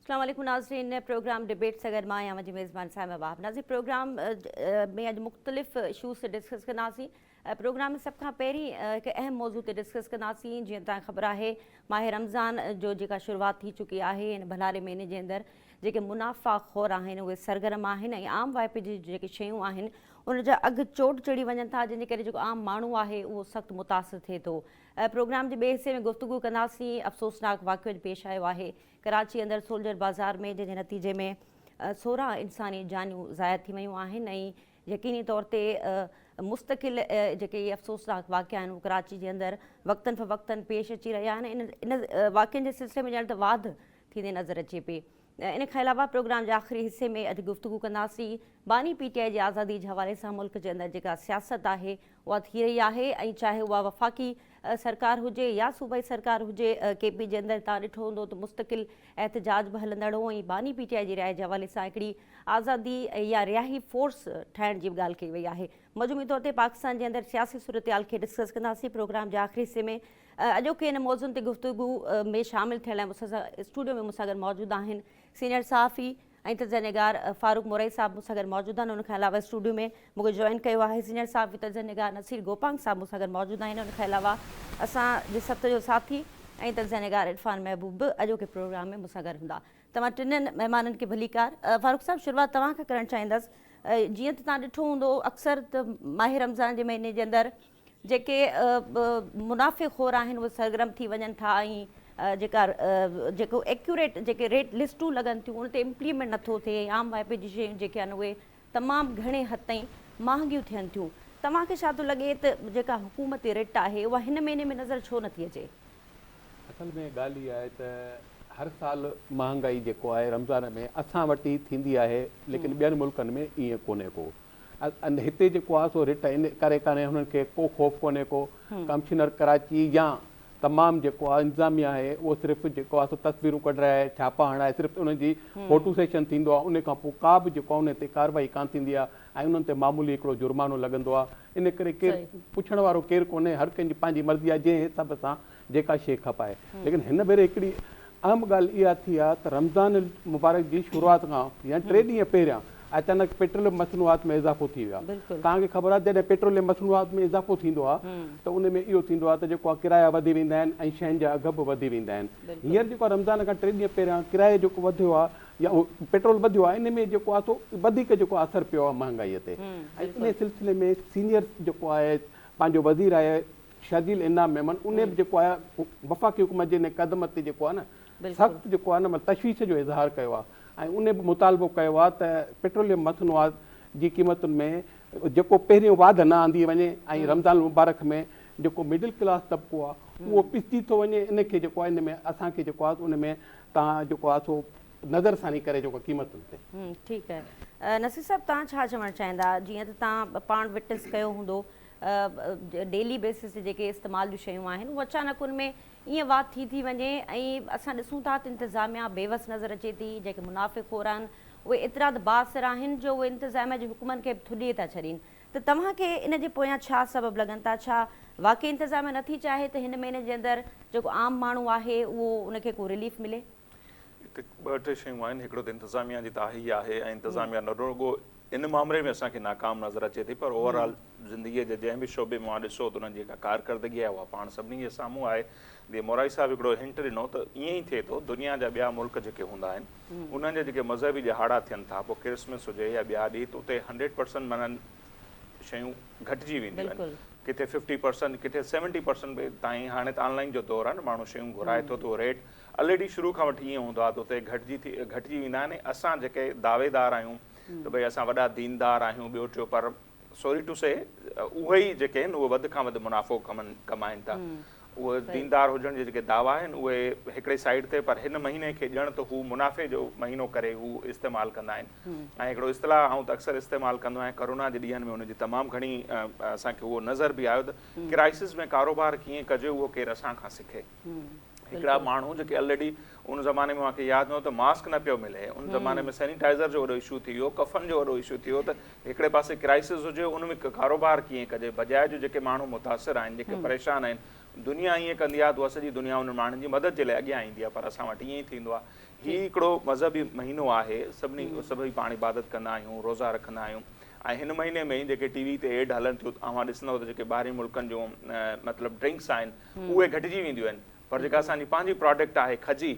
اسلام عليڪم ناظرين پروگرام ڊبيٽ سان گڏ مان آهيان منهنجي ميزبان صائمه وهاب ناظرين پروگرام ۾ اڄ مختلف اشوز تي ڊسڪس ڪنداسين پروگرام ۾ سڀ کان پهرين هڪ اهم موضوع تي ڊسڪس ڪنداسين جيئن تان خبر آهي ماهي رمضان جو جيڪا شروعات ٿي چڪي آهي هن ڀلاري مهيني جي اندر جيڪي منافعا خور آهن اهي سرگرم آهن ۽ عام واهپي جون جيڪي شيون آهن ان جا اگهه چوٽ چڙهي وڃن ٿا جنهن جي ڪري جيڪو عام ماڻهو آهي اهو سخت متاثر ٿئي ٿو پروگرام جي ٻئي حصي ۾ گفتگو ڪنداسين افسوسناڪ واقعو اڄ پيش آيو آهي ڪراچي اندر سولجر بازار ۾ جنهن جي نتيجي ۾ سورهن انساني جانيون ضايع ٿي ويون آهن ۽ يقيني طور تي مستقل جيڪي اهي افسوسناڪ واقعا آهن اهو ڪراچي جي اندر وقتاً فوقتاً پيش اچي رهيا آهن ان ان واقعن جي سلسلي ۾ ڄڻ ته واڌ ٿيندي نظر اچي پئي. ان کان علاوه پروگرام جي آخري حصي ۾ اڄ گفتگو ڪنداسين. باني پي ٽي آء جي آزادي جي حوالي سان ملڪ جي اندر جيڪا سياست آهي اها ٿي رهي آهي ۽ چاهي اها وفاقي سرڪار هجي يا صوبائي سرڪار هجي ڪي پي جي اندر توهان ڏٺو هوندو ته مستقل احتجاج به هلندڙ هو ۽ باني پي ٽي آء جي رهائش جي حوالي سان هڪڙي آزادي يا رهائي فورس ٺاهڻ جي به ڳالهه ڪئي وئي آهي. مجموعي طور تي پاڪستان جي اندر سياسي صورتحال کي ڊسڪس ڪنداسين پروگرام جي آخري حصي ۾ اڄوڪي ان موضوعن تي گفتگو ۾ شامل ٿيڻ لاء مون سان اسٽوڊيو ۾ مون سان گڏ موجود آهن سينيئر صحافي ۽ تجزيه نگار فاروق مورئي صاحب مون سان گڏ موجود آهن ان کان علاوه اسٽوڊيو ۾ مون کي جوائن ڪيو آهي سينيئر صحافي تجزيه نگار نصير گوپانگ صاحب مون سان گڏ موجود آهن ان کان علاوه اسان جي سٿ جو ساٿي ۽ تجزيه نگار عرفان محبوب به اڄوڪي پروگرام ۾ مون سان گڏ هوندا توهان ٽنهن مهمانن کي ڀليڪار فاروق صاحب شروعات توهان کان ڪرڻ چاهيندس جيئن ته تان ڏٺو هوندو اڪثر ته ماهه رمضان جي مهيني جي اندر جيڪي منافع خور آهن اهي سرگرم ٿي وڃن ٿا ۽ جيڪا جيڪو ايڪيوريٽ جيڪي ريٽ لسٽون لڳن ٿيون ان تي امپليمينٽ نٿو ٿئي عام وائپي جي شيون جيڪي آهن اهي تمام گهڻي حد تائين مهانگيون ٿين ٿيون توهان کي ڇا ٿو لڳي ته جيڪا حڪومتي رٽ آهي اها هن مهيني ۾ نظر ڇو نٿي اچي؟ اصل ۾ ڳالهه هي آهي ته هر سال مهانگائي جيڪو آهي رمضان ۾ اسان وٽ ئي ٿيندي آهي ليڪن ٻين ملڪن ۾ ائين ڪونهي ڪو ۽ هتي جيڪو آهي سو رٽ ان ڪري ڪانهي هنن کي ڪو خوف ڪونهي ڪو ڪمشنر ڪراچي يا تمام جيڪو آهي انتظاميه آهي اهو صرف جيڪو آهي سو تصويرون ڪڍرائي ڇاپا هڻائي صرف انهن جي فوٽو سيشن ٿيندو آهي ان کان پوء ڪا به جيڪو آهي انهن تي ڪارروائي ڪانه ٿيندي آهي ۽ انهن تي معمولي هڪڙو جرمانو لڳندو آهي ان ڪري ڪير پڇڻ وارو ڪير ڪونهي هر ڪنهن جي پنهنجي مرضي آهي جنهن حساب سان جيڪا شيء کپائي ليڪن هن ڀيري هڪڙي اهم ڳالهه اها ٿي آهي ته رمضان المبارڪ جي شروعات کان يعني ٽي ڏينهن پهريان اچانڪ پيٽروليم مصنوعات ۾ اضافو ٿي ويو آهي توهان کي خبر آهي جڏهن پيٽروليم مصنوعات ۾ اضافو ٿيندو آهي ته ان ۾ اهو ٿيندو آهي ته جيڪو آهي ڪرايا وڌي ويندا آهن ۽ شين جا اگهه به وڌي ويندا آهن هينئر جيڪو آهي رمضان کان ٽي ڏينهن پهريان ڪرايو جيڪو وڌيو آهي يا پيٽرول وڌيو آهي ان ۾ جيڪو آهي سو وڌيڪ جيڪو آهي اثر پيو آهي مهانگائي تي ۽ ان سلسلي ۾ سينيئر جيڪو آهي پنهنجو وزير آهي شرجيل انعام ميمڻ انهي به جيڪو آهي وفاقي حڪومت جي انهي قدم تي جيڪو آهي نه سخت جيڪو آهي نه تشويش جو اظهار ڪيو آهي ۽ انهي به مطالبو ڪيو آهي ته پيٽروليم مصنوعات جي قيمتن ۾ جيڪو پهريون واڌ نه آندي وڃي ۽ رمضان المبارڪ ۾ جيڪو مڊل ڪلاس طبقو آهي اهو پسجي ٿو وڃي ان کي جيڪو آهي ان ۾ اسان کي جيڪو آهي ان ۾ تان جيڪو آهي سو نظر ثاني ڪري جيڪو قيمتن تي ٺيڪ آهي نصير صاحب تان ڇا چوڻ چاهيندا جيئن ته تان پاڻ وٽنس ڪيو هوندو ڊيلي بيسس تي جيڪي استعمال جون شيون آهن هو اچانڪ ان ۾ ائين وات ٿي ٿي وڃي ۽ اسان ڏسون ٿا ته انتظاميا بيوس نظر اچي ٿي جيڪي منافع خور آهن اهي ايترا ته بااثر آهن جو اهي انتظاميا جي حڪمن کي به ٿڏي ٿا ڇڏين ته توهان کي ان جي پويان ڇا سبب لڳن ٿا ڇا واقعي انتظاميا نٿي چاهي ته هن مهيني جي اندر جيڪو عام ماڻهو آهي اهو ان کي ڪو رليف ملي. هتي ٻه ٽي شيون آهن هڪڙو ته انتظاميا جي تاهي آهي ۽ انتظاميا نه رڳو ان معامري ۾ اسان کي ناڪام نظر اچي ٿي پر اوور آل زندگي جي جنهن به شعبي مان ڏسو ته انهن جي جيڪا ڪارڪردگي آهي اها پاڻ سڀني جي سامهون آهي جيئن مورائي صاحب هڪڙو هنٽ ڏنو ته ائين ئي ٿئي ٿو دنيا جا ٻيا ملڪ جيڪي هوندا آهن انهن جا جيڪي مذهبي ڏهاڙا ٿين ٿا پوء ڪرسمس هجي يا ٻيا ڏينهن ته اتي هنڊريڊ پرسنٽ معنيٰ شيون گهٽجي وينديون آهن ڪٿي ففٽي پرسنٽ ڪٿي سيونٽي پرسنٽ به تائين هاڻي ته آن لائن جو دور آهي نه ماڻهو شيون گهرائي ٿو ته اهو ريٽ الريڊي شروع کان وٺي ائين هوندو آهي ته اتي گهٽجي ٿي گهٽجي ويندا آهن ۽ اسان جيڪي دعويدار آهيون ته ڀئي اسان وڏا ديندار آهيون ٻيو ٽيو پر سوري ٽو سي اهي ئي جيڪي آهن اهي وڌ کان وڌ منافعو ڪمن ڪمائين ٿا اهي ديندار هجڻ جي جيڪي دعوا آهن اهي هڪڙي سائيڊ تي پر هن مهيني کي ڄڻ ته هو منافعي جو مهينو ڪري هو استعمال ڪندا آهن ۽ هڪڙو اصطلاح آئون ته اڪثر استعمال ڪندو آهيان ڪرونا جي ڏينهن ۾ ان جي تمام گهڻي اسان کي اهو نظر به آيو ته ڪرائسز ۾ ڪاروبار ڪيئن ڪجي اهو ڪير اسان کان سکي هڪڙا ماڻهو جيڪي الريڊي ان زماني ۾ مانکي ياد نه هو ته ماسڪ نه پيو ملي ان زماني ۾ سينيٽائزر جو وڏو اشو ٿي ويو ڪفن جو وڏو اشو ٿي ويو ته هڪڙي پاسي ڪرائسز هجي ان ۾ ڪاروبار ڪيئن ڪجي بجاء جو جيڪي ماڻهو متاثر آهن جيڪي پريشان آهن دنيا ائين ڪندي آهي ته اها سڄي دنيا انهن ماڻهن جي مدد جي لاء اڳيان ايندي آهي پر اسان وٽ ائين ئي ٿيندو آهي هي هڪڙو مذهبي مهينو آهي سڀني سڀئي پاڻ عبادت ڪندا آهيون روزا رکندا آهيون ۽ هن مهيني ۾ جيڪي ٽي وي تي ايڊ هلن ٿيون اوهان ڏسندو ته جيڪي ٻاهرين ملڪن جون مطلب ڊرنڪس آهن اهي گهٽجي وينديون آهن پر جيڪا اسان جي پنهنجي پراڊڪٽ آهي کجي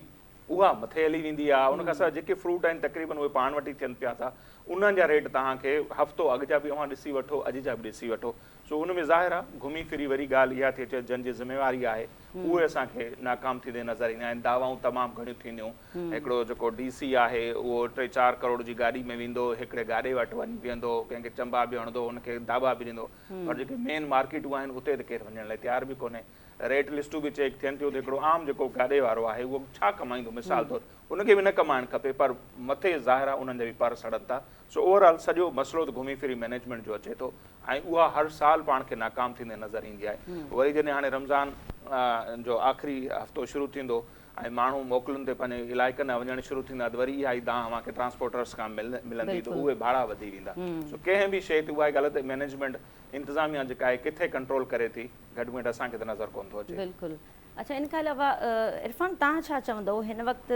اها مٿي هلي ويندي آهي ان کان سواء جيڪي فروٽ آهن تقريبن اهي پاڻ وٽ ئي ٿين پيا ٿا انهن جا ريٽ توهان کي هفتو اڳ جا به اوهان ڏسي وٺو اڄ جا به ڏسي وٺو سو ان ۾ ظاهر آهي گهمي ڦري وري ڳالهه اها ٿي اچي جن جي ذميواري آهي اهي اسان کي ناڪام ٿيندي نظر ايندا آهن دعوائون تمام گهڻيون ٿينديون هڪڙو جيڪو ڊي سي آهي اهو ٽي چار ڪروڙ جي گاڏي ۾ ويندو هڪڙي گاڏي وٽ وڃي بيهندو ڪنهن کي چنبا به هڻندو ان کي داٻا به ڏيندو پر جيڪي مين مارڪيٽون آهن اتي ته ڪير وڃڻ لاء تيار به ڪونهي ريٽ لسٽون به چيڪ ٿين ٿيون ته هڪڙو عام جيڪو گاڏي وارو آهي اهو ڇا ڪمائيندو مثال طور ان کي به نه ڪمائڻ کپي پر مٿي ظاهر آهي انهن جا به پر سڙن ٿا سو اوور آل سڄو مسئلو ته گهمي ڦري مينيجمينٽ جو اچي ٿو ۽ اها هر سال پاڻ کي ناڪام ٿيندي نظر ايندي آهي وري جڏهن هاڻي رمضان جو آخري هفتو شروع ٿيندو ۽ ماڻهو موڪلن تي پنهنجي علائقن ڏانهن وڃڻ شروع ٿيندا ته وري اها ئي دانهن اوهان کي ٽرانسپورٽرز کان ملندي ته اهي ڀاڙا وڌي ويندا سو ڪنهن به شيء تي اها ئي ڳالهه ته مئنيجمينٽ انتظاميا جيڪا آهي ڪٿي ڪنٽرول ڪري ٿي گهٽميٽ اسان کي ته نظر ڪونه ٿو اچي. بلڪل اڇا ان کان علاوه عرفان تان ڇا چوندو هن وقت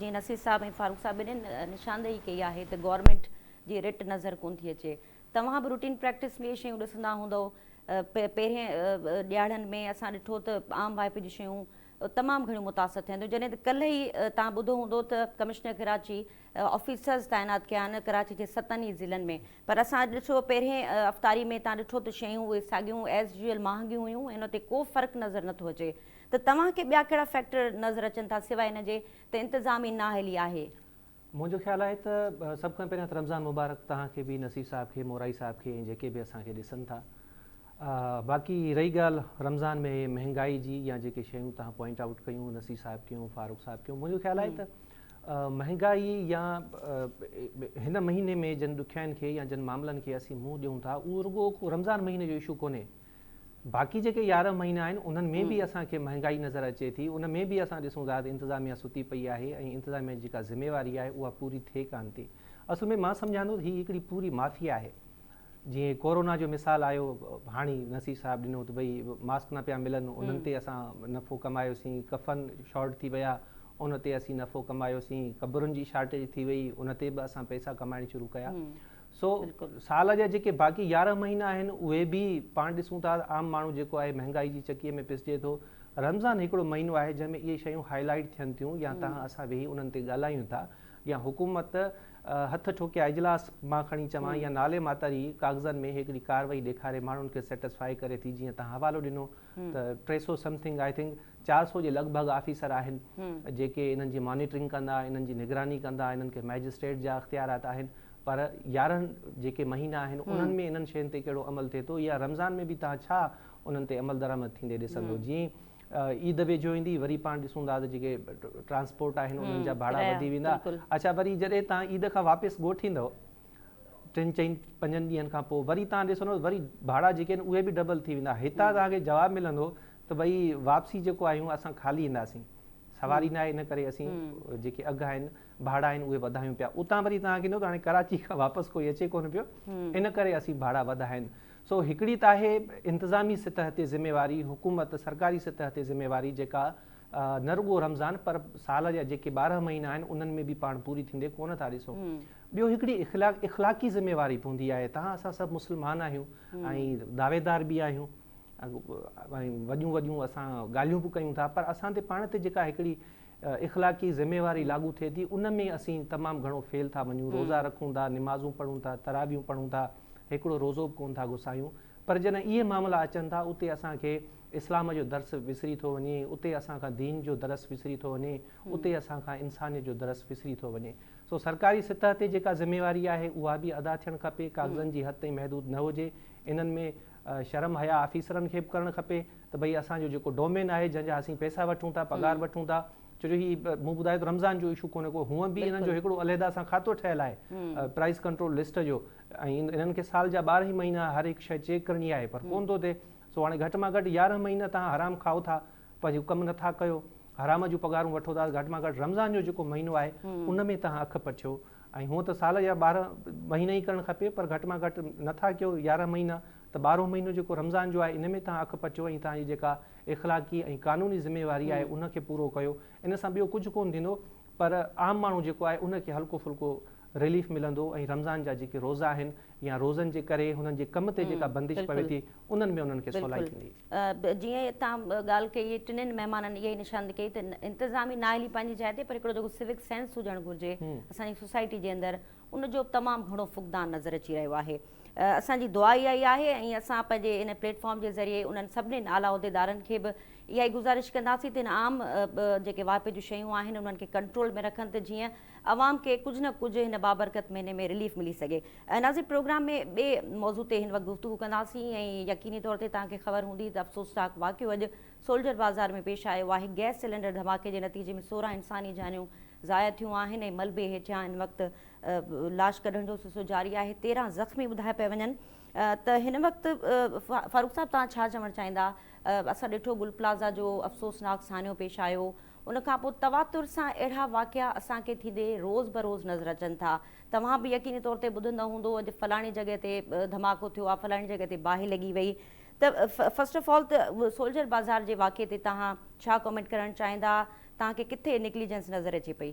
جيئن نصير صاحب ۽ فاروق صاحب ٻنهين نشاندهي ڪئي آهي ته گورنمينٽ جي رٽ نظر ڪونه ٿي اچي توهان به روٽين پريڪٽس ۾ اهي شيون ڏسندا هوندؤ پهرين ڏياڙهن ۾ اسان ڏٺو ته عام وائپي جون شيون تمام گهڻيون متاثر ٿين ٿيون جڏهن ته ڪلهه ئي توهان ٻڌو هوندو ته ڪمشنر ڪراچي آفيسرز تعينات ڪيا آهن ڪراچي جي ستن ئي ضلعن ۾ پر اسان اڄ ڏٺو پهرين افطاري ۾ توهان ڏٺو ته شيون اهي ساڳيون ايز يوزيل مهانگيون هيون ان تي ڪو فرق نظر نٿو اچي ته توهان کي ٻيا ڪهڙا فيڪٽر نظر اچن ٿا سواء ان جي ته انتظام ئي نااهلي آهي. منهنجو خيال آهي ته سڀ کان پهريان ته رمضان مبارڪ توهان کي به نصير صاحب کي مورائي صاحب کي ۽ جيڪي به اسان کي ڏسن ٿا باقي رهي ڳالهه رمضان ۾ مهنگائي جي يا جيڪي شيون توهان پوائنٽ آئوٽ ڪيون نصير صاحب ڪيون فاروق صاحب ڪيون منهنجو خيال آهي ته مهنگائي يا هن مهيني ۾ جن ڏکيائين کي يا جن معاملن کي اسين منهن ڏيون ٿا اهو رڳو رمضان مهيني جو اشو ڪونهي باقي جيڪي يارهن مهينا آهن انهن ۾ به اسان کي مهانگائي نظر اچي ٿي ان ۾ به اسان ڏسون ٿا ته انتظاميا ستي پئي آهي ۽ انتظاميا جي جيڪا ذميواري آهي اها پوري ٿئي ڪانه ٿي اصل ۾ مان سمجهان ٿو ته هي هڪڙي پوري مافيا آهي جيئن ڪورونا جو مثال آيو هاڻي نصير صاحب ڏنو ته ڀئي ماسڪ نه پيا ملن انهن تي اسان نفعو ڪمايوسين ڪفن شارٽ ٿي ويا ان تي اسين نفعو ڪمايوسين قبرن جي شارٽيج ٿي وئي ان تي به اسان پئسا ڪمائڻ شروع ڪيا سو سال جا جيڪي باقي يارهن مهينا آهن اهي به پاڻ ڏسون ٿا عام ماڻهو جيڪو آهي مهنگائي جي چڪيء ۾ پسجي ٿو. رمضان هڪڙو مهينو آهي جنهن ۾ اهي شيون هاء لائيٽ ٿين ٿيون يا تهان اسان ويهي انهن تي ڳالهايون ٿا يا حڪومت هٿ ٺوڪيا اجلاس مان کڻي چوان يا نالي ماتري ڪاغذن ۾ هڪڙي ڪارروائي ڏيکاري ماڻهن کي سيٽسفائي ڪري ٿي جيئن تهان حوالو ڏنو ته ٽي سو سمٿنگ آء ٿنڪ چار سؤ جي لڳ ڀڳ آفيسر آهن جيڪي انهن جي مانيٽرنگ ڪندا، انهن جي نگراني ڪندا، انهن کي مئجسٽريٽ جا اختيارات آهن پر يارهن جيڪي مهينا آهن انهن ۾ انهن شين تي ڪهڙو عمل ٿئي ٿو يا رمضان ۾ به توهان ڇا انهن تي عملدرآمد ٿيندي ڏسندو جي عيد ويجهو ايندي وري پاڻ ڏسون ٿا ته جيڪي ٽرانسپورٽ آهن انهن جا ڀاڙا وڌي ويندا اڇا وري جڏهن توهان عيد کان واپس ڳوٺ ايندو ٽن چئن پنجن ڏينهن کان پوء وري توهان ڏسندو وري ڀاڙا جيڪي آهن اهي به ڊبل ٿي ويندا هتان توهان کي جواب ملندو ته ڀئي واپسي جيڪو آهيون اسان خالي اينداسين سواري ناهي ان ڪري اسين جيڪي اگهه آهن ڀاڙا آهن اهي وڌايون پيا اتان وري تان ڪيندو ته هاڻي ڪراچي کان واپس ڪوئي اچي ڪونه پيو ان ڪري اسين ڀاڙا وڌايا آهن سو هڪڙي ته آهي انتظامي سطح تي ذميواري حڪومت سرڪاري سطح تي ذميواري جيڪا نه رڳو رمضان پر سال جا جيڪي ٻارهن مهينا آهن انهن ۾ به پاڻ پوري ٿيندي ڪونه ٿا ڏسون ٻيو هڪڙي اخلاق اخلاقي ذميواري پوندي آهي تان اسان سڀ مسلمان آهيون ۽ دعويدار به آهيون ۽ وڏيون وڏيون اسان ڳالهيون به ڪيون ٿا پر اسان تي پاڻ تي جيڪا هڪڙي اخلاقي ذميواري لاڳو ٿئي ٿي ان ۾ اسين تمام گهڻو فيل ٿا وڃون روزا رکون ٿا نمازون پڙهون ٿا تراويون پڙهون ٿا هڪڙو روزو به ڪون ٿا گسايون پر جڏهن اهي معاملا اچن ٿا اتي اسان کي اسلام جو درس وسري ٿو وڃي اتي اسان کان دين جو درس وسري ٿو وڃي اتي اسان کان انسانيت جو درس وسري ٿو وڃي سو سرڪاري سطح تي جيڪا ذميواري آهي اها به ادا ٿيڻ کپي ڪاغذن جي حد تائين محدود نه هجي انهن ۾ شرم حيا آفيسرن کي به ڪرڻ کپي ته ڀئي اسان جو جيڪو ڊومين آهي جنهن جا اسين پئسا وٺون ٿا پگهار وٺون ٿا ڇو جو هي مون ٻڌايو ته رمضان جو اشو ڪونهي ڪو هونء به انهن جو هڪڙو عليحده سان کاتو ٺهيل آهي پرائز ڪنٽرول لسٽ جو ۽ انهن کي سال جا ٻارهن ئي مهينا هر هڪ شيء چيڪ ڪرڻي آهي پر ڪونه ٿو ٿئي سو هاڻي گهٽ مان گهٽ يارهن مهينا توهان حرام کائو ٿا پنهنجو ڪم نٿا ڪيو حرام جون پگهارون وٺو ٿا گهٽ مان گهٽ رمضان جو جيڪو مهينو آهي ان ۾ توهان اک پٽيو ۽ هونء ته سال جا ٻارهن مهينا ئي ڪرڻ کپي پر گهٽ مان گهٽ نه ٿا ڪيو يارهن مهينا ته ٻارهون مهينو جيڪو رمضان جو آهي ان ۾ توهان اک پٽيو ۽ توهان جي جيڪا اخلاقي ۽ قانوني ذميواري آهي ان کي پورو ڪيو ان سان ٻيو ڪجهه ڪون ٿيندو پر عام ماڻهو جيڪو آهي ان کي هلڪو ڦلڪو رليف ملندو ۽ رمضان جا جيڪي روزا آهن يا روزن جي ڪري هنن جي ڪم تي جيڪا بندش پوي ٿي انهن ۾ انهن کي سولائي ٿيندي. جيئن اتان ڳالهه ڪئي هئي ٽنهن مهمانن اها ئي نشاندهي ڪئي ته انتظامي نااهلي پنهنجي جاء تي پر هڪڙو جيڪو سوڪ سينس هجڻ گهرجي اسان جي سوسائٽي جي اندر ان جو تمام گهڻو فقدان نظر اچي رهيو آهي اسان جي دعا اها ئي آهي ۽ اسان پنهنجي ان پليٽ فارم جي ذريعي انهن سڀني اعليٰ عهديدارن کي به اها ئي گذارش ڪنداسين ته ان عام جيڪي واهپي جون شيون آهن انهن کي ڪنٽرول ۾ رکن ته جيئن عوام کي ڪجهه نه ڪجهه هن بابرڪت مهيني ۾ رليف ملي سگهي. ناظرين پروگرام ۾ ٻئي موضوع تي هن وقت گفتگو ڪنداسين ۽ يقيني طور تي توهان کي خبر هوندي ته افسوسناڪ واقعو اڄ سولجر بازار ۾ پيش آيو آهي گئس سلينڊر ڌماڪي جي نتيجي ۾ سورهن انساني جانيون ضايع ٿيون آهن ۽ ملبي هيٺيان هن وقت لاش ڪڍڻ جو سلسلو جاري آهي تيرهن زخمي ٻڌايا پيا وڃن ته هن وقت فاروق صاحب توهان ڇا چوڻ چاهيندا اسان ڏٺو گل پلازا جو افسوسناڪ سانحو پيش آيو ان کان پوء تواتر سان اهڙا واقعا اسان کي ٿيندي روز بروز نظر اچن ٿا. توهان به يقيني طور تي ٻڌندو هوندو اڄ فلاڻي جڳهه تي ڌماڪو ٿيو آ، فلاڻي جڳهه تي باهه لڳي وئي ته فرسٽ آف آل ته سولجر بازار جي واقعي تي توهان ڇا ڪمينٽ ڪرڻ چاهيندا، توهان کي ڪٿي نيگليجنس نظر اچي پئي؟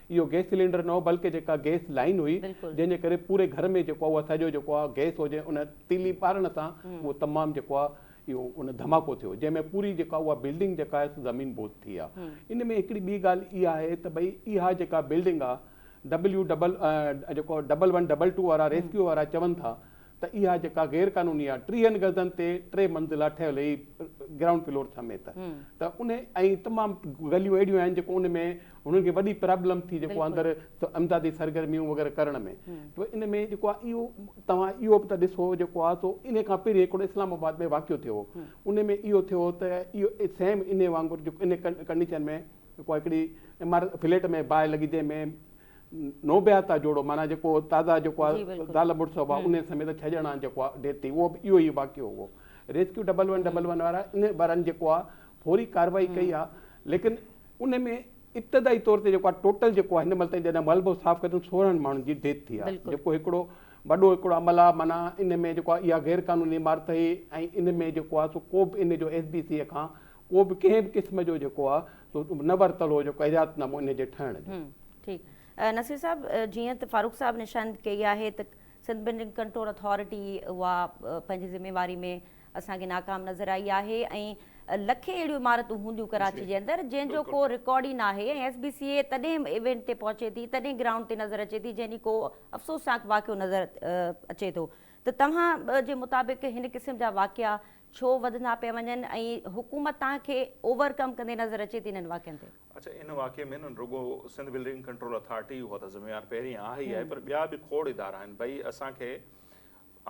اهو گئس سلينڊر نه هو بلڪه جيڪا گئس لائين هئي جنهن جي ڪري پوري گهر ۾ جيڪو اهو سڄو جيڪو آهي گئس هو جنهن ان تيلي ٻارڻ سان اهو تمام جيڪو آهي اهو ان ڌماڪو ٿيو جنهن ۾ پوري جيڪا اها بلڊنگ جيڪا آهي سو زمين بوت ٿي آهي ان ۾ هڪڙي ٻي ڳالهه اها آهي ته ڀئي اها جيڪا بلڊنگ آهي ڊبليو ڊبل جيڪو ڊبل ون ڊبل ٽو وارا ريسڪيو وارا چون ٿا ته اها جيڪا غير قانوني آهي ٽيهن گزن تي ٽي منزلا ٺهيل هي گرائونڊ فلور سميت ته ان ۽ تمام گليون اهڙيون آهن جيڪو ان ۾ هنن کي وڏي پرابلم ٿي جيڪو اندر امدادي سرگرميون وغيره ڪرڻ ۾ ته ان ۾ جيڪو آهي اهو توهان اهو به ته ڏسو جيڪو آهي سو ان کان پهرين هڪڙو اسلام آباد ۾ واقعو ٿيو هو ان ۾ اهو ٿيو هو ته اهو سيم ان وانگر جيڪو ان ڪنڊيشن ۾ جيڪو هڪڙي عمارت فليٽ ۾ باهه لڳي جنهن ۾ نوبياتا جوڙو معنيٰ جيڪو تازا جيڪو آهي زال مڙس هئا انهي سميت ڇهه ڄڻا جيڪو آهي ڊيٿ ٿي اهو به اهو ئي واقعو هو rescue double one double one وارا انهي وارن جيڪو آهي فوري ڪارروائي ڪئي آهي ليڪن انهي ۾ ابتدائي طور تي جيڪو آهي ٽوٽل جيڪو آهي هن مهل تائين جڏهن ملبو صاف ڪيو اٿن سورهن ماڻهن جي ڊيٿ ٿي آهي جيڪو هڪڙو وڏو هڪڙو عمل آهي معنيٰ انهي ۾ جيڪو آهي اها غير قانوني عمارت هئي ۽ انهي ۾ جيڪو آهي سو ڪو به انهي جو ايس بي سي کان ڪو به ڪنهن به قسم جو جيڪو آ سو نه ورتل هو جيڪو ايجاد نامو انهي جي ٺهڻ جو. ٺيڪ نصير صاحب جيئن ته فاروق صاحب نشاند ڪئي آهي ته سنڌ بلڊنگ ڪنٽرول اٿارٽي اها پنهنجي ذميواري ۾ اسان کي ناڪام نظر آئي آهي ۽ لکين اهڙيون عمارتون هونديون ڪراچي جي اندر جنهن جو ڪو رڪارڊ ئي ناهي ۽ ايس بي سي اي تڏهن ايونٽ تي پهچي ٿي تڏهن گرائونڊ تي نظر اچي ٿي جنهن ڏينهن ڪو افسوسناڪ واقعو نظر اچي ٿو ته توهان جي مطابق هن قسم جا واقعا ڇو وڌندا پيا وڃن ۽ حڪومت تان کي اوور ڪم ڪندي نظر اچي ٿي انهن واقعن تي؟ اڇا ان واقعي ۾ نه رڳو سنڌ بلڊنگ ڪنٽرول اٿارٽي اها ته ذميوار پهرين آهي ئي آهي پر ٻيا به کوڙ ادارا آهن ڀئي اسان کي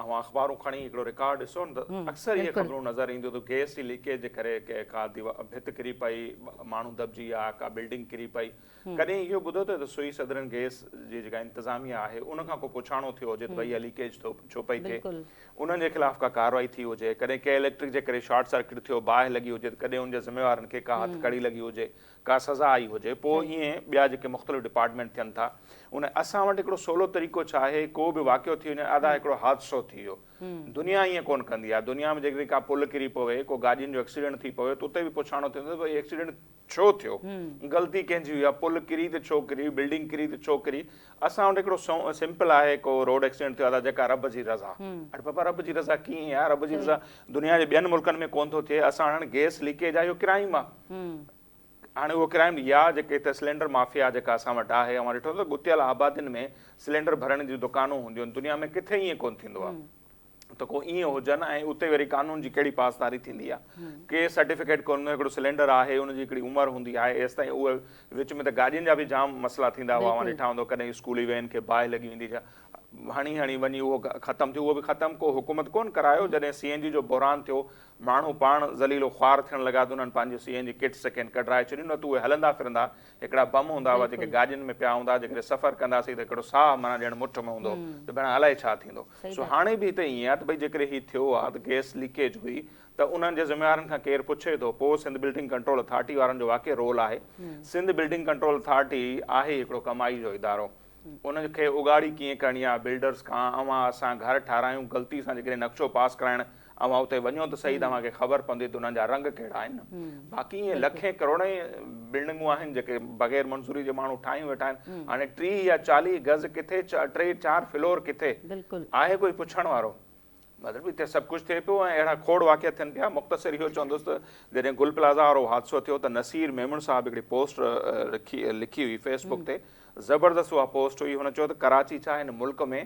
اوهان اخبارون کڻي هڪڙو رڪارڊ ڏسو نه ته اڪثر اهي خبرون نظر اينديون ته گئس جي ليڪيج جي ڪري ڪا ڀت ڪري پئي ماڻهو دٻجي ويا ڪا بلڊنگ ڪري پئي ڪڏهن اهو ٻڌو اٿئي ته سوئي صدرن گئس جي جيڪا انتظاميه آهي ان کان ڪو پڇاڻو ٿيو هجي ته ڀئي اها ليڪيج ڇو پئي ٿئي؟ انهن جي خلاف ڪا ڪارروائي ٿي هجي؟ ڪڏهن ڪنهن اليڪٽرڪ جي ڪري شارٽ سرڪٽ ٿيو، باهه لڳي هجي ته ڪڏهن ان جي ذميوارن کي ڪا هٿ ڪڙي لڳي هجي، ڪا سزا آئي هجي؟ پوء ائين ٻيا جيڪي مختلف ڊپارٽمينٽ ٿين ٿا ان اسان وٽ هڪڙو سولو طريقو ڇا آهي ڪو به واقعو ٿي وڃي ادا هڪڙو حادثو ٿي ويو. دنيا ائين ڪونه ڪندي آهي. دنيا ۾ جيڪڏهن ڪا پل ڪري پوي، ڪو گاڏين جو ايڪسيڊنٽ ٿي پوي ته اتي به پڇاڻو ٿيندو ته ڀئي ايڪسيڊنٽ ڇو ٿيو؟ غلطي ڪنهن جي هئي آ؟ پل ڪري ته ڇو ڪري؟ بلڊنگ ڪري ته ڇو ڪري؟ اسان وٽ هڪڙو سمپل آهي ڪو روڊ ايڪسيڊنٽ ٿيو آ ته جيڪا رب جي رضا. اڙي بابا رب جي رضا ڪيئن آ؟ رب جي رضا دنيا جي ٻين ملڪن ۾ ڪونه ٿو ٿئي. اسان وٽ هاڻي گيس ليڪيج آ اهو ڪرائيم آ. هاڻي اهو ڪرائيم يا جيڪي هتي سلينڊر مافيا جيڪا اسان وٽ آهي اوهان ڏٺو اٿو ڳتيل آبادين ۾ سلينڊر ڀرڻ جون دڪانون هونديون آهن دنيا ۾ ڪٿي ائين ڪونه ٿيندو آ. ته ڪو ائين هجن ۽ اتي وري قانون جي ڪهڙي پاسداري ٿيندي آهي ڪي سرٽيفڪيٽ ڪون هڪڙو سلينڊر آهي ان جي هڪڙي عمر هوندي آهي ايستائين اهو وچ ۾ ته گاڏين جا به جام مسئلا ٿيندا هئا اوهان ڏٺا هوندو ڪڏهن اسڪولي وين کي باهه لڳي ويندي جا هڻي هڻي وڃي اهو ختم ٿيو اهو به ختم ڪو حڪومت ڪون ڪرايو جڏهن سي اين جي جو بحران ٿيو ماڻهو پاڻ ذليل و خوار ٿيڻ لڳا ته انهن پنهنجي سي اين جي ڪٽ سڪين ڪڍرائي ڇڏيون نه ته اهي هلندا ڦرندا هڪڙا بم هوندا هئا جيڪي گاڏين ۾ پيا هوندا جيڪڏهن سفر ڪنداسين ته هڪڙو ساهه معنيٰ ڄڻ مٺ ۾ هوندو ته ڀيڻا الائي ڇا ٿيندو سو هاڻي به هتي ائين آهي ته ڀئي جيڪڏهن هي ٿيو آهي ته گئس ليڪيج هئي ته انهن جي ذميوارن کان ڪير پڇي ٿو پوء سنڌ بلڊنگ ڪنٽرول اٿارٽي وارن جو واقعي رول آهي سنڌ بلڊنگ ڪنٽرول اٿارٽي آهي هڪڙو ڪمائي جو ادارو ان کي اگهاڙي ڪيئن ڪرڻي آهي بلڊرز کان اوهان اسان گهر ٺاهرايون غلطي سان جيڪڏهن نقشو پاس ڪرائڻ اوهان اتي وڃو ته سهي ته اوهان کي خبر پوندي ته انهن جا رنگ ڪهڙا آهن. باقي ائين لکين ڪروڙين بلڊنگون آهن جيڪي بغير منظوري جي ماڻهو ٺاهيون ويٺا آهن. هاڻي ٽيهه يا چاليهه گز ڪٿي ٽي چار فلور ڪٿي؟ آهي ڪوئي پڇڻ وارو؟ مطلب اتي سڀ ڪجهه ٿئي پيو ۽ اهڙا کوڙ واقعا ٿين پيا. مختصر اهو چوندس ته جڏهن گل پلازا وارو حادثو ٿيو ته نصير ميمڻ صاحب هڪڙي پوسٽ لکي هئي فيس بڪ تي زبردست اها پوسٽ هئي، هن چيو ته ڪراچي ڇا هن ملڪ ۾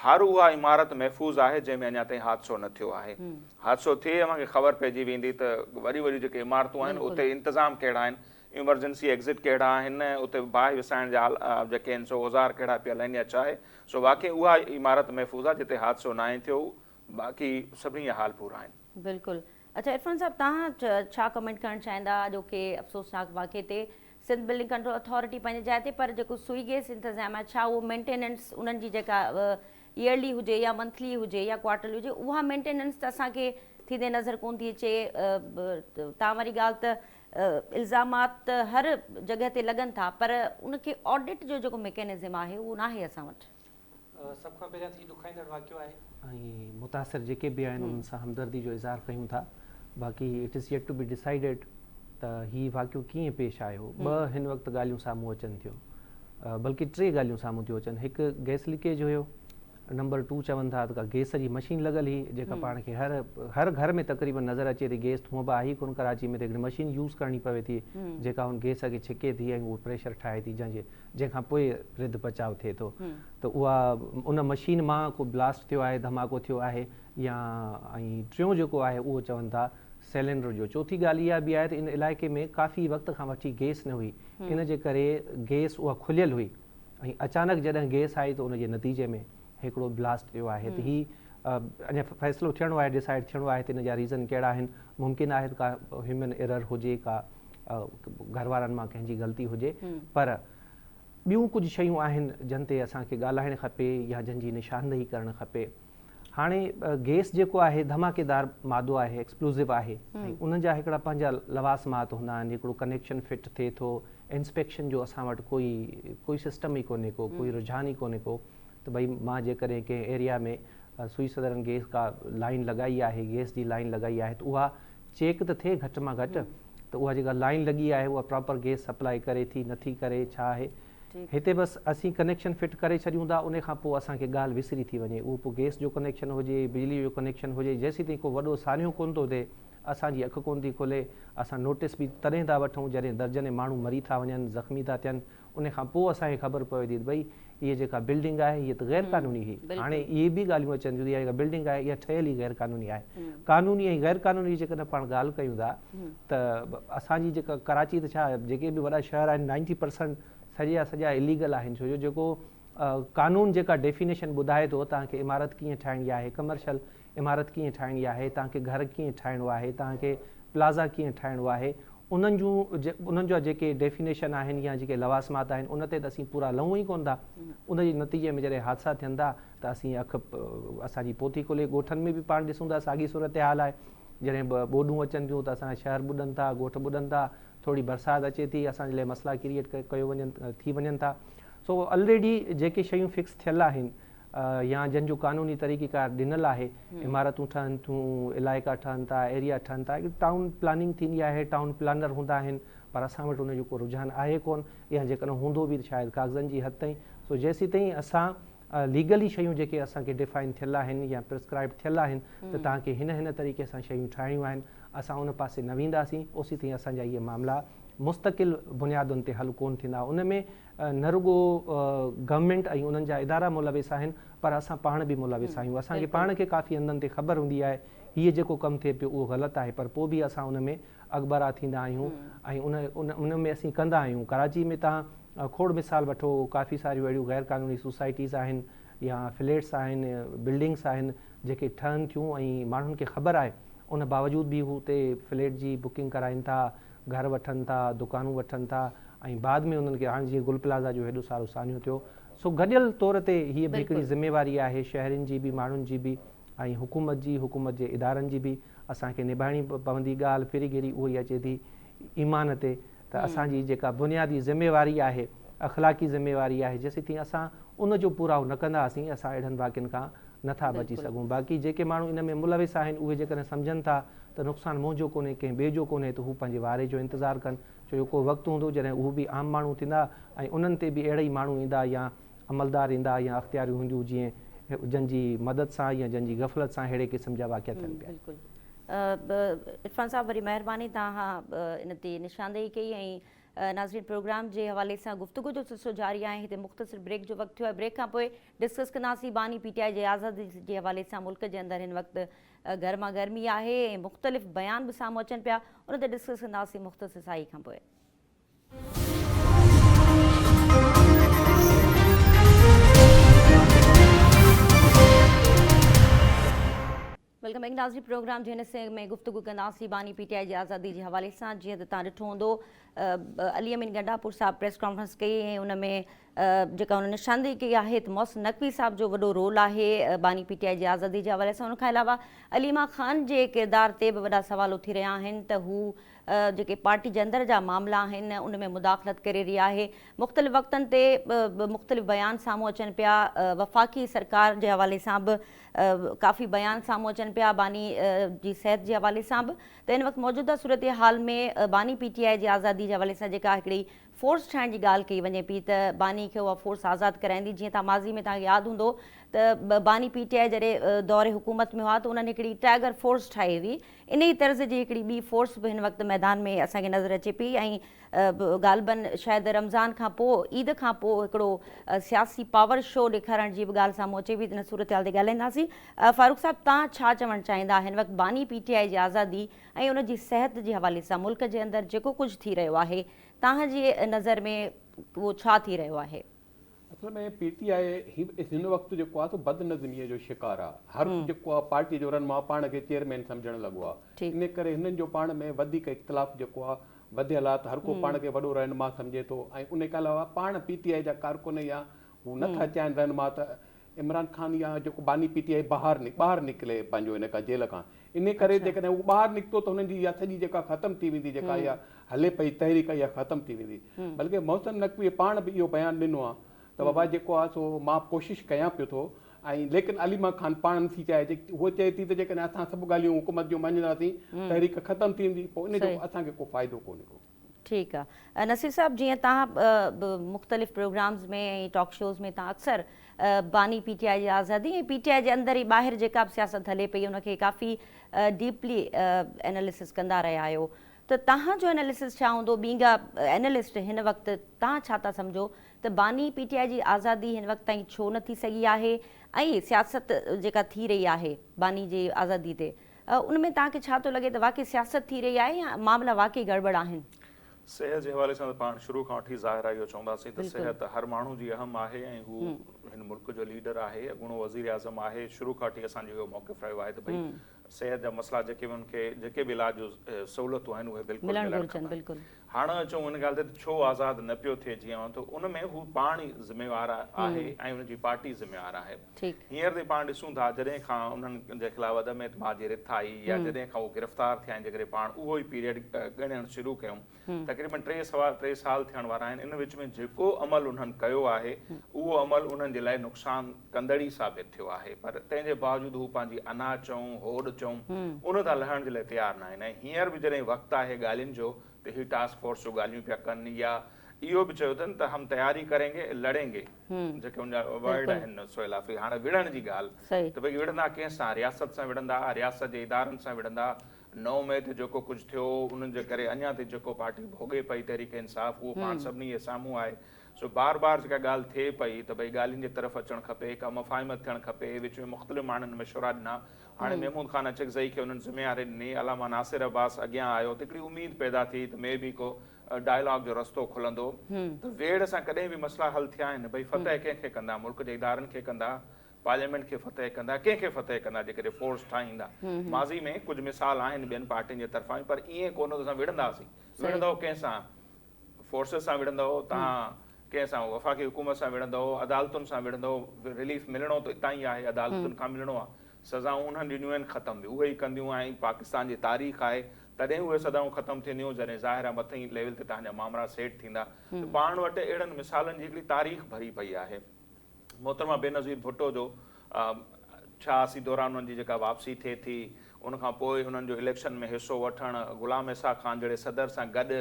هر اها عمارت محفوظ آهي جنهن ۾ اڃا تائين حادثو نه ٿيو آهي، حادثو ٿئي اوهان کي خبر پئجي ويندي ته وڏيون وڏيون جيڪي عمارتون آهن اتي انتظام ڪهڙا آهن، ايمرجنسي ايگزٽ ڪهڙا آهن، اتي باهه وسائڻ جا جيڪي آهن سو اوزار ڪهڙا پيل آهن يا ڇا آهي، سو واقعي اها عمارت محفوظ آهي جتي حادثو ناهي ٿيو، باقي سڀني جا حال پورا آهن. بلڪل اڇا عرفان صاحب توهان ڇا ڪمينٽ ڪرڻ چاهيندا اڄوڪي افسوسناڪ واقعي تي سنڌ بلڊنگ ڪنٽرول اٿارٽي پنهنجي جاء تي پر جيڪو سوئي گيس انتظام آهي ڇا اهو مينٽيننس انهن جي جيڪا ايئرلي هجي يا منٿلي هجي يا ڪوارٽرلي هجي اها مينٽيننس ته اسان کي ٿيندي نظر ڪونه ٿي اچي تان واري ڳالهه ته الزامات ته هر جڳهه تي لڳن ٿا پر ان کي آڊٽ جو جيڪو ميڪينزم آهي اهو ناهي اسان وٽ. سڀ کان پهريان ته هي ڏکائيندڙ واقعو آهي. ۽ متاثر جيڪي به آهن انهن سان همدردي جو اظهار ڪيون ٿا. باقي it is yet to be decided ته هي واقعو ڪيئن پيش آيو. ٻه هن وقت ڳالهيون سامهون اچن ٿيون. بلڪه ٽي ڳالهيون سامهون ٿيون اچن. هڪ گئس ليڪيج هيو. نمبر ٽو چون ٿا ته ڪا گئس جي مشين لڳل هئي جيڪا پاڻ کي هر هر گهر ۾ تقريبن نظر اچي ٿي. گئس ته هونئن به آهي ئي ڪونه ڪراچي ۾ ته هڪڙي مشين يوز ڪرڻي پوي ٿي جيڪا ان گئس کي ڇڪي ٿي ۽ اهو پريشر ٺاهي ٿي جنهن جي جنهن کان پوء رڌ پچاء ٿئي ٿو ته اها ان مشين مان ڪو بلاسٽ ٿيو آهي، ڌماڪو ٿيو آهي يا ۽ ٽيون جيڪو آهي اهو چون ٿا سيلينڊر جو. چوٿين ڳالهه اها به آهي ته ان علائقي ۾ ڪافي وقت کان وٺي گيس نه هئي ان جي ڪري گيس اها کليل هئي ۽ اچانڪ جڏهن گيس آئي ته ان جي نتيجي ۾ هڪڙو بلاسٽ ٿيو آهي ته هي اڃا فيصلو ٿيڻو آهي ڊسائيڊ ٿيڻو آهي ته ان جا ريزن ڪهڙا آهن ممڪن آهي ته ڪا هيومن ايرر هجي ڪا گهر وارن مان ڪنهن جي غلطي هجي پر ٻيون ڪجهه شيون آهن جن تي اسان کي ڳالهائڻ کپي يا جن جي نشاندهي ڪرڻ کپي هاڻي گيس جيڪو آهي ڌماڪيدار مادو آهي ايڪسپلوزو آهي ان جا هڪڙا پنهنجا لواسمات هوندا آهن هڪڙو ڪنيڪشن فٽ ٿئي ٿو انسپيڪشن جو اسان وٽ ڪوئي ڪوئي سسٽم ئي ڪونهي ڪو ڪوئي رجحان ئي ڪونهي ڪو ته بھي مان جيڪڏهن ڪنهن ايريا ۾ سوئي صدرن گيس ڪا لائن لڳائي آهي گيس جي لائن لڳائي آهي ته اها چيڪ ته ٿئي گهٽ مان گهٽ ته اها جيڪا لائين لڳي آهي اها پراپر گيس سپلائي ڪري ٿي نه ٿي ڪري ڇا آهي هتي بس اسين ڪنيڪشن فٽ ڪري ڇڏيون ٿا ان کان پوء اسان کي ڳالهه وسري ٿي وڃي اهو پوء گيس جو ڪنيڪشن هجي بجلي جو ڪنيڪشن هجي جيسين تائين ڪو وڏو سانحو ڪونه ٿو ٿئي اسان جي اک ڪونه ٿي کلي اسان نوٽس به تڏهن ٿا وٺون جڏهن درجنين ماڻهو مري ٿا وڃن زخمي ٿا ٿين ان کان پوء اسان کي خبر پوي ٿي ته ڀئي هيء جيڪا بلڊنگ آهي هيء ته غير قانوني هئي. هاڻي اهي به ڳالهيون اچن ٿيون ته اها جيڪا بلڊنگ آهي اها ٺهيل ئي غير قانوني آهي. قانوني ۽ غير قانوني جي جيڪڏهن پاڻ ڳالهه ڪيون ٿا ته اسان جي جيڪا ڪراچي ته ڇا جيڪي به وڏا شهر آهن نائنٽي پرسنٽ سڄي جا سڄا اليگل آهن ڇو جو جيڪو قانون جيڪا ڊيفينيشن ٻڌائي ٿو توهان کي عمارت ڪيئن ٺاهڻي آهي ڪمرشل عمارت ڪيئن ٺاهڻي آهي، توهان کي گهر ڪيئن ٺاهڻو آهي، توهان کي پلازا ڪيئن ٺاهڻو آهي، انهن جون انهن جا جيڪي ڊيفينيشن آهن يا جيڪي لوازمات آهن ان تي ته اسين پورا لهون ئي ڪونه ٿا. ان جي نتيجي ۾ جڏهن حادثا ٿين ٿا ته اسين اک اسان جي پوٿي کولي ڳوٺن ۾ به پاڻ ڏسون ٿا ساڳي صورتحال آهي. جڏهن ٻوڏون اچن ٿيون ته اسان جا شهر ٻڏن ٿا، ڳوٺ ٻڏن ٿا، ٿوري برسات اچي ٿي اسان جي لاء مسئلا ڪريئيٽ ڪيو وڃن ٿي وڃن ٿا. سو الريڊي جيڪي شيون فڪس ٿيل آهن يا جن جو قانوني طريقي ڪار ڏنل آهي، عمارتون ٺهن ٿيون، علائقا ٺهن ٿا، ايريا ٺهن ٿا، هڪڙي ٽائون پلاننگ ٿيندي آهي، ٽائون پلانر هوندا آهن، پر اسان وٽ ان جو ڪو رجحان آهي ڪون يا جيڪڏهن هوندو به ته شايد ڪاغذن جي حد تائين، سو جيسيتائين اسان ليگلي شيون جيڪي اسان کي ڊفائن ٿيل آهن يا پرسڪرائبڊ ٿيل آهن ته توهان کي هن هن طريقي سان شيون ٺاهڻيون آهن، اسان ان پاسي نه وينداسين، اوسيتائين اسان جا اهي معاملا مستقل بنيادن تي حل ڪون ٿيندا، ان ۾ نه رڳو گورنمينٽ ۽ انهن جا ادارا ملوث آهن پر اسان پاڻ به ملوث آهيون اسان کي پاڻ کي ڪافي هنڌن تي خبر هوندي آهي هيء جيڪو ڪم ٿئي پيو اهو غلط آهي پر پوء به اسان ان ۾ اڳڀرا ٿيندا آهيون ۽ ان ۾ اسين ڪندا آهيون ڪراچي ۾ توهان کوڙ مثال وٺو ڪافي ساريون اهڙيون غير قانوني سوسائٽيز آهن يا فليٽس آهن بلڊنگس آهن جيڪي ٺهن ٿيون ۽ ماڻهن کي خبر آهي ان باوجود به هو اتي فليٽ جي بڪنگ ڪرائين ٿا گهر وٺن ٿا، دڪانون وٺن ٿا ۽ بعد ۾ انهن کي هاڻ جيئن گل پلازا جو هيڏو سارو سانحو ٿيو سو گڏيل طور تي هيء به هڪڙي ذميواري آهي شهرين جي به ماڻهن جي به ۽ حڪومت جي حڪومت جي ادارن جي به اسان کي نڀائڻي پوندي ڳالهه ڦري گهري اهو ئي اچي ٿي ايمان تي ته اسان جي جيڪا بنيادي ذميواري آهي اخلاقي ذميواري آهي جيسيتائين اسان ان جو پورائو نه ڪنداسين اسان اهڙن واقعن کان نه ٿا بچي سگهون باقي جيڪي ماڻهو ان ۾ ملوث آهن اهي جيڪڏهن سمجهن ٿا ته نقصان منهنجو ڪونهي ڪنهن ٻئي جو ڪونهي ته هو پنهنجي واري جو انتظار ڪن ڇو جو ڪو وقت هوندو جڏهن اهو به عام ماڻهو ٿيندا ۽ انهن تي به اهڙا ئي ماڻهو ايندا يا عملدار ايندا يا اختياريون هونديون جئين جن جي مدد سان يا جن جي غفلت سان اهڙي قسم جا واقعا ٿين پيا. بلڪل عرفان صاحب وري مهرباني توهان ان تي نشاندهي ڪئي ۽ ناظرين پروگرام جي حوالي سان گفتگو جو سلسلو جاري آهي هتي مختصر بريڪ جو وقت ٿيو آهي بريڪ کان پوء ڊسڪس ڪنداسين باني پي ٽي آء جي آزادي جي حوالي سان ملڪ جي اندر هن وقت گرما گرمي آهي ۽ مختلف بيان به سامهون اچن پيا ان تي ڊسڪس ڪنداسين مختصر سائي کان پوء ويلڪم بيڪ ناظرين پروگرام جي هن حصي ۾ گفتگو ڪنداسين باني پي ٽي آء جي آزادي جي حوالي سان جيئن ته تان ڏٺو هوندو علي امين گنڊاپور صاحب پريس ڪانفرنس ڪئي ۽ ان ۾ جيڪا هن نشاندهي ڪئي آهي ته محسن نقوي صاحب جو وڏو رول آهي باني پي ٽي آء جي آزادي جي حوالي سان ان کان علاوه عليما خان جي ڪردار تي به وڏا سوال اٿي رهيا آهن ته هو جيڪي پارٽي جي اندر جا معاملا آهن ان ۾ مداخلت ڪري رهي آهي مختلف وقتن تي مختلف بيان سامهون اچن پيا وفاقي سرڪار جي حوالي سان به ڪافي بيان سامهون اچن پيا باني جي صحت جي حوالي سان به ته هن وقت موجوده صورتحال ۾ باني پي ٽي آء جي آزادي جي حوالي سان جيڪا هڪڙي فورس ٺاهڻ جي ڳالهه ڪئي وڃي پي ته باني کي اها فورس آزاد ڪرائيندي جيئن تان ماضي ۾ تان ياد هوندو ته باني پي ٽي آء جڏهن دور حڪومت ۾ هئا ته انهن هڪڙي ٽائيگر فورس ٺاهي هئي انهي طرز جي هڪڙي ٻي فورس به هن وقت ميدان ۾ اسان کي نظر اچي پي ۽ غالباً شايد رمضان کان پوء عيد کان پوء هڪڙو سياسي پاور شو ڏيکارڻ جي به ڳالهه سامهون اچي پئي ان صورتحال تي ڳالهائينداسين. فاروق صاحب تان ڇا چوڻ چاهيندا هن وقت باني پي ٽي آء جي آزادي ۽ ان جي صحت جي حوالي سان ملڪ جي اندر جيڪو ڪجهه ٿي رهيو آهي تان جي نظر ۾ اهو ڇا ٿي رهيو آهي. اصل ۾ پي ٽي آء هن وقت جيڪو آهي سو بدنظميء جو شڪار آهي. هر جيڪو آهي پارٽيء جو رهنما پاڻ کي چيئرمين سمجهڻ لڳو آهي. ان ڪري هنن جو پاڻ ۾ وڌيڪ اختلاف جيڪو آهي وڌيل آهي ته هر ڪو پاڻ کي وڏو رهنما سمجهي ٿو ۽ ان کان علاوه پاڻ پي ٽي آء جا ڪارڪن يا هو نٿا چاهين رهنما ته عمران خان يا جيڪو باني پي ٽي آء بهار ٻاهر نڪلي پنهنجو ان کان جيل کان ان ڪري اڇا. جيڪڏهن هو ٻاهر نڪتو ته هنن جي اها سڄي جيڪا ختم ٿي ويندي جيڪا اها همم. هلي پئي تحريڪ اها ختم ٿي ويندي همم. بلڪه محسن نقوي پاڻ به اهو بيان ڏنو آهي ته همم. بابا جيڪو آهي سو مان ڪوشش ڪيان پيو ٿو ۽ ليڪن عليما خان پاڻ نٿي چاهي جي هوء چئي ٿي ته جيڪڏهن اسان سڀ ڳالهيون حڪومت جون مڃنداسين همم. تحريڪ ختم ٿي ويندي پوء ان جو صحيح. اسان کي ڪو فائدو ڪونهي ڪو. ٺيڪ آ نصير صاحب جيئن تهان به مختلف پروگرامز ۾ ۽ ٽاڪ شوز ۾ تهان اڪثر باني پي ٽي آء جي آزادي ۽ پي ٽي آء جي اندر ۽ ٻاهر جيڪا به سياست هلي پئي ان کي ڪافي ڊيپلي ايناليسس ڪندا رهيا آهيو ته تهان جو ايناليسس ڇا هوندو ٻينگا اينالسٽ هن وقت تهان ڇا ٿا سمجهو ته باني پي ٽي آء جي آزادي هن وقت تائين ڇو نه ٿي سگهي آهي ۽ سياست جيڪا ٿي رهي آهي باني جي آزادي تي ان ۾ توهان کي ڇا ٿو لڳي ته واقعي سياست ٿي رهي آهي يا معاملا واقعي گڙٻڙ آهن؟ صحت جي حوالي سان ته پاڻ شروع کان وٺي ظاهر آهي اهو چونداسين ته صحت هر ماڻهو جي اهم آهي ۽ هو هن ملڪ جو ليڊر آهي اڳوڻو وزير اعظم آهي شروع کان وٺي اسان جو اهو موقف رهيو آهي ته ڀئي صحت جا مسئلا جيڪي به ان کي جيڪي به علاج جون سهولتون آهن اهي بلڪل ملڻ کپن هاڻ اچون ان ڳالهه تي ته ڇو آزاد نه پيو ٿئي جيئن ته ان ۾ هو پاڻ ئي ذميوار آهي ۽ ان جي پارٽي ذميوار آهي. هينئر تائين پاڻ ڏسون ٿا جڏهن کان انهن جي خلاف عدم اعتماد جي رٿ آئي يا جڏهن کان هو گرفتار ٿيا آهن جيڪڏهن پاڻ اهو ئي پيريڊ ڳڻڻ شروع ڪيون تقريبن ٽي سوا ٽي سال ٿيڻ وارا آهن ان وچ ۾ جيڪو عمل انهن ڪيو آهي اهو عمل انهن جي لاء نقصان ڪندڙ ئي ثابت ٿيو آهي پر تنهن جي باوجود هو پنهنجي انا چئون، هوڏ چئون ان تان لهڻ جي لاء تيار ناهن ۽ هينئر به جڏهن وقت آهي ڳالهين جو ته هي ٽاسڪ فورس جو ڳالهيون پيا ڪن يا اهو به چيو اٿن ته هم تياري ڪرينگي لڙينگي جيڪي ان جا ورڊ آهن سهيل آفريدي هاڻ وڙهڻ جي ڳالهه ته ڀئي وڙهندا ڪنهن سان رياست سان وڙهندا رياست جي ادارن سان وڙهندا نو مئي تي جيڪو ڪجهه ٿيو انهن جي ڪري اڃا تائين جيڪو پارٽي ڀوڳي پئي تحريڪ انصاف اهو پاڻ سڀني جي سامهون آهي سو بار بار جيڪا ڳالهه ٿئي پئي ته ڀئي ڳالهين جي طرف اچڻ کپي، ڪا مفاهمت ٿيڻ کپي، وچ ۾ مختلف ماڻهن مشورا ڏنا، هاڻي محمود خان اچڪزئي کي انهن ذميواري ڏني، علامه ناصر عباس اڳيان آيو ته هڪڙي اميد پيدا ٿي ته مي بي ڪو ڊائلاگ جو رستو کلندو ته ويڙهه سان ڪڏهن به مسئلا حل ٿيا آهن، ڀئي فتح ڪنهن کي ڪندا، ملڪ جي ادارن کي ڪندا، پارليامينٽ کي فتح ڪندا، ڪنهن کي فتح ڪندا جيڪڏهن فورس ٺاهيندا، ماضي ۾ ڪجهه مثال آهن ٻين پارٽين جي طرفان به پر ائين ڪونه ته اسان وڙهنداسين، وڙهندؤ ڪنهن سان؟ فورسز سان وڙهندؤ، توهان ڪنهن سان وفاقي حڪومت سان وڙهندؤ، عدالتن سان وڙهندؤ، رليف ملڻو ته اتان ئي آهي، عدالتن کان ملڻو آهي. سزائون انهن ڏنيون آهن ختم به اهي ئي ڪنديون ۽ پاڪستان جي تاريخ آهي تڏهن اهي سزائون ختم ٿينديون جڏهن ظاهر آهي مٿئين ليول تي تهان جا مامرا سيٽ ٿيندا ته پاڻ وٽ اهڙن مثالن جي هڪڙي تاريخ ڀري پئي آهي. محترمه بينظير ڀٽو جو ڇهاسي دوران انهن جي جيڪا واپسي ٿئي ٿي ان کان پوء انهن جو اليڪشن ۾ حصو وٺڻ، غلام اسحاق خان جهڙي صدر سان گڏ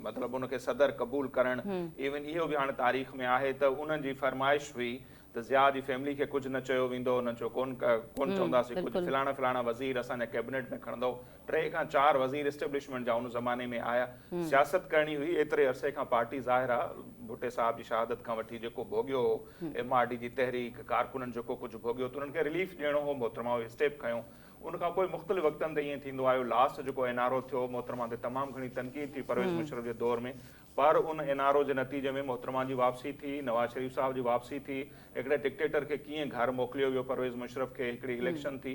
مطلب ان کي صدر قبول ڪرڻ ايون اهو به هاڻي تاريخ ۾ آهي ته انهن جي فرمائش هئي ته ضياء جي فيملي کي ڪجهه نه چيو ويندو انهن چيو ڪونه چونداسين ڪجهه فلاڻا فلاڻا وزير اسان جا ڪيبنيٽ ۾ کڻندو. ٽي کان چار وزير اسٽيبلشمينٽ جا ان زماني ۾ آيا. سياست ڪرڻي هئي، ايتري عرصي کان پارٽي ظاهر آ ڀٽي صاحب جي شهادت کان وٺي جيڪو ڀوڳيو هو، ايم آر ڊي جي تحريڪ، ڪارڪنن جيڪو ڪجهه ڀوڳيو ته انهن کي رليف ڏيڻو هو، محترمه اهو اسٽيپ کنيو. ان کان پوء مختلف وقتن تي ائين ٿيندو آيو، لاسٽ جيڪو اين آر او ٿيو، محترمه تي تمام گهڻي تنقيد ٿي پرويز مشرف جي دور ۾ پر ان اين آر او جي نتيجي ۾ محترمه جي واپسي ٿي، نواز شريف صاحب جي واپسي ٿي، هڪڙي ڊڪٽيٽر کي ڪيئن گهر موڪليو ويو پرويز مشرف کي، هڪڙي اليڪشن ٿي.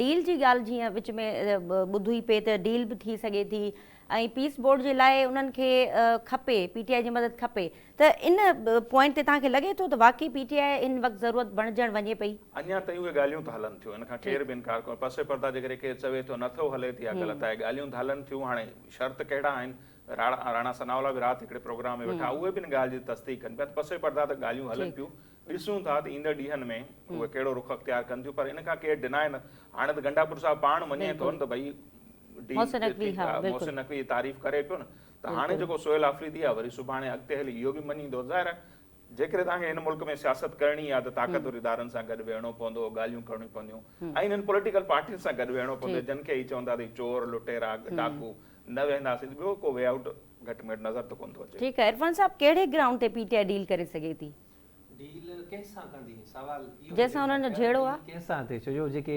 ڊيل جي ڳالهه جيئن وچ ۾ ٻڌوئي پئي ته ڊيل به ٿي سگهي ٿي ۽ پيس بورڊ جي لاء انهن کي کپي پي ٽي آء جي مدد کپي ته ان پوائنٽ تي توهان کي لڳي ٿو ته واقعي پي ٽي آء هن وقت ضرورت بڻجڻ وڃي پئي؟ اڃا تائين اهي ڳالهيون ته هلن ٿيون ان کان ڪير به انڪار ڪو پس پرده جي ڪري ڪير چوي ٿو نه ٿو هلي ته اها غلط آهي ڳالهيون ته هلن ٿيون هاڻي شرط ڪهڙا آهن راڻا ثناء الله به رات هڪڙي پروگرام ۾ ويٺا اهي به ان ڳالهه جي تصديق ڪن پيا ته پس پرده ته ڳالهيون هلن پيون ڏسون ٿا ته ايندڙ ڏينهن ۾ اهي ڪهڙو رخ اختيار ڪن ٿيون پر ان کان ڪير ڊناء نه هاڻي ته گنڊاپور صاحب پاڻ مڃي ٿو نه ته ڀئي محسن نقوي جي تعريف ڪري پيو نه ته هاڻي جيڪو سهيل آفريدي آهي وري سڀاڻي اڳتي هلي اهو به مڃيندو ظاهر آهي جيڪڏهن توهان کي هن ملڪ ۾ سياست ڪرڻي آهي ته طاقتور ادارن سان گڏ ويهڻو پوندو ڳالهيون ڪرڻيون پونديون ۽ انهن پوليٽيڪل پارٽين سان گڏ ويهڻو پوندو جن کي هي چون ٿا ته هي چور لٽيرا ڊاڪو نه ويهنداسين ته ٻيو ڪو وي آئوٽ گهٽ ۾ گهٽ نظر ته ڪونه ٿو اچي. ٺيڪ آهي عرفان صاحب ڪهڙي گرائونڊ تي پي ٽي آء ڊيل ڪري سگهي ٿي؟ جنهن سان انهن جو جهيڙو آ. ڇو جو جيڪي